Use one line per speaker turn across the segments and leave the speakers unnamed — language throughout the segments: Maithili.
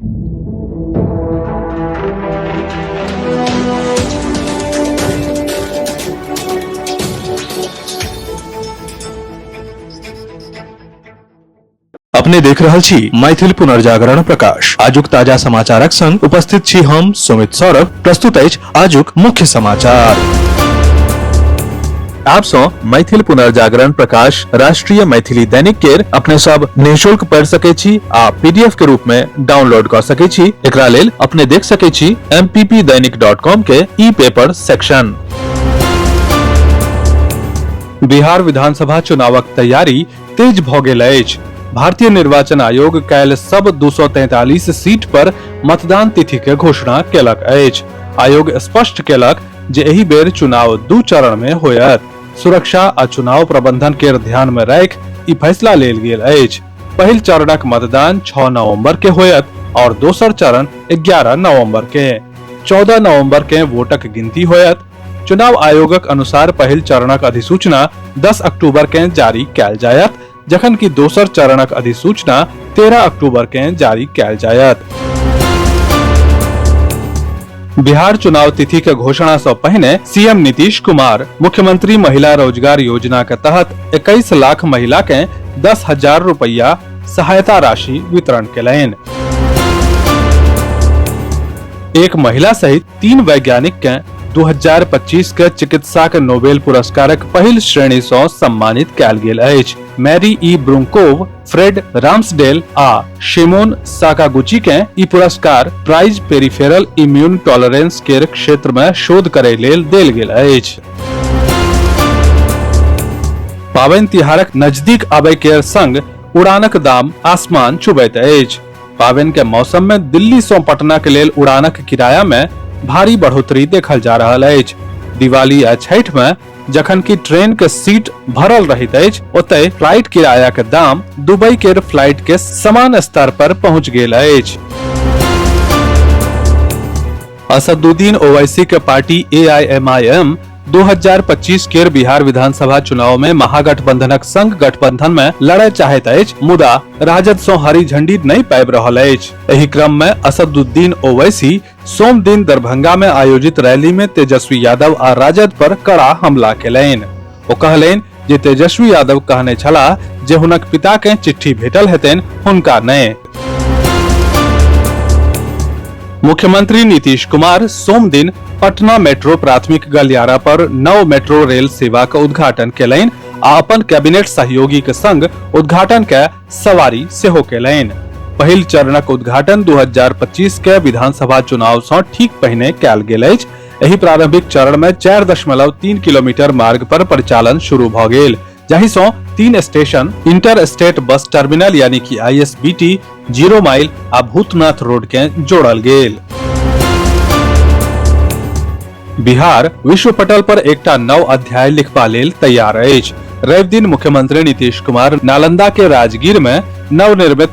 अपने देख रहल छी मैथिल पुनर्जागरण प्रकाश आजुक ताजा समाचारक संग उपस्थित छी हम सुमित सौरभ प्रस्तुत अछि आजुक मुख्य समाचार आप सो मैथिल पुनर्जागरण प्रकाश राष्ट्रीय मैथिली दैनिक केर अपने सब निशुल्क पढ़ सके छी आ पीडीएफ के रूप में डाउनलोड कर सके छी एकरा लेल अपने देख सके छी mppdainik.com के ई पेपर सेक्शन बिहार विधानसभा चुनावक तैयारी तेज भऽ गेल अछि भारतीय निर्वाचन आयोग काल्हि सब 243 सीट पर मतदान तिथि के घोषणा केलक अछि आयोग स्पष्ट केलक जे एहि बेर चुनाव दू चरण में होयत सुरक्षा आ चुनाव प्रबंधन के ध्यान में राख ई फैसला लेल गेल अछि पहिल चरणक मतदान 6 नवंबर के होयत और दोसर चरण 11 नवंबर के 14 नवंबर के वोटक गिनती होयत चुनाव आयोगक अनुसार पहिल चरणक अधिसूचना 10 अक्टूबर के जारी कैल जायत जखन कि दोसर चरणक अधिसूचना 13 अक्टूबर के जारी कैल जायत बिहार चुनाव तिथि के घोषणा से पहले सीएम नीतीश कुमार मुख्यमंत्री महिला रोजगार योजना के तहत 21 लाख महिला के दस हजार रुपया सहायता राशि वितरण कयलनि एक महिला सहित तीन वैज्ञानिक के 2025 के चिकित्सा के नोबेल पुरस्कारक पहिल श्रेणी सँ सम्मानित कयल गेल अछि मैरी ई ब्रुंकोव फ्रेड राम्सडेल आ शिमोन साकागुची के ई पुरस्कार प्राइज पेरिफेरल इम्यून टॉलरेंस के क्षेत्र में शोध करे लेल देल गेल अछि पाबनि तिहारक नजदीक आबय के संग उड़ानक दाम आसमान छुबैत अछि पावन के मौसम में दिल्ली से पटना के लेल उड़ानक किराया में भारी बढ़ोतरी देखल जा रहल अछि दिवाली आ छठ में जखन कि ट्रेन के सीट भरल रहैत अछि ओतय फ्लाइट किराया के दाम दुबई के फ्लाइट के समान स्तर पर पहुंच गेल अछि असदुद्दीन ओवैसी के पार्टी एआईएमआईएम 2025 केर बिहार विधानसभा चुनाव में महागठबंधनक संग गठबंधन में लड़य चाहैत अछि मुदा राजद सं हरी झंडी नहि पाबि रहल अछि एहि क्रम में असदुद्दीन ओवैसी सोम दिन दरभंगा में आयोजित रैली में तेजस्वी यादव आ राजद पर कड़ा हमला केलनि ओ कहलनि जे तेजस्वी यादव कहने छलाह जे हुनक पिता के चिट्ठी भेटल हेतनि हुनका नहि मुख्यमंत्री नीतीश कुमार सोम दिन पटना मेट्रो प्राथमिक गलियारा पर नव मेट्रो रेल सेवा के उद्घाटन केलनि आ अपन कैबिनेट सहयोगी के संग उद्घाटन के सवारी सेहो केलनि पहिल चरणक उद्घाटन 2025 के विधानसभा चुनाव सँ ठीक पहिने कयल गेल अछि एहि प्रारंभिक चरण में चार दशमलव तीन किलोमीटर मार्ग पर परिचालन शुरू भ गेल जाहि सं तीन station inter state bus terminal यानी कि आईएसबीटी जीरो माइल आ भूतनाथ रोड के जोड़ल गेल बिहार विश्व पटल पर एकटा नव अध्याय लिखबा लेल तैयार अछि रवि दिन मुख्यमंत्री नीतीश कुमार नालंदा के राजगीर में नवनिर्मित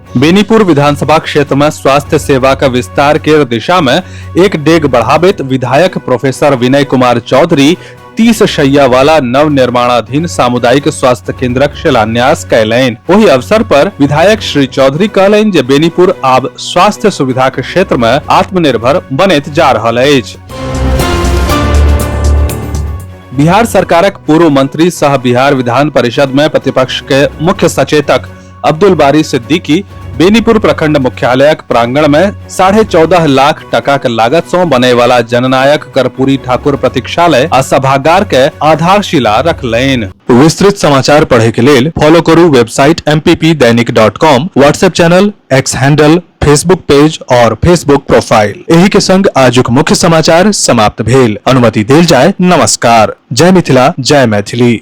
बेनीपुर विधानसभा क्षेत्र में स्वास्थ्य सेवा का विस्तार के दिशा में एक डेग बढ़ावित विधायक प्रोफेसर विनय कुमार चौधरी तीस शैया वाला नव निर्माणाधीन सामुदायिक स्वास्थ्य केंद्रक शिलान्यास कैलैन वही अवसर पर विधायक श्री चौधरी कहलैन जे बेनीपुर आब स्वास्थ्य सुविधा के क्षेत्र में आत्मनिर्भर बनैत जा रहल अछि बिहार सरकारक पूर्व मंत्री सह बिहार विधान परिषद में प्रतिपक्ष के मुख्य सचेतक अब्दुल बारी सिद्दीकी बेनीपुर प्रखंड मुख्यालयक प्रांगण में साढ़े चौदह लाख टका के लागत सौ बने वाला जननायक कर्पूरी ठाकुर प्रतीक्षालय आ सभागार के आधारशिला रखलैन विस्तृत समाचार पढ़े के लेल फॉलो करू website M P P Dainik dot com WhatsApp channel X handle Facebook page और फेसबुक प्रोफाइल एही के संग आजुक मुख्य समाचार समाप्त भेल अनुमति देल जाय नमस्कार जय मिथिला जय मैथिली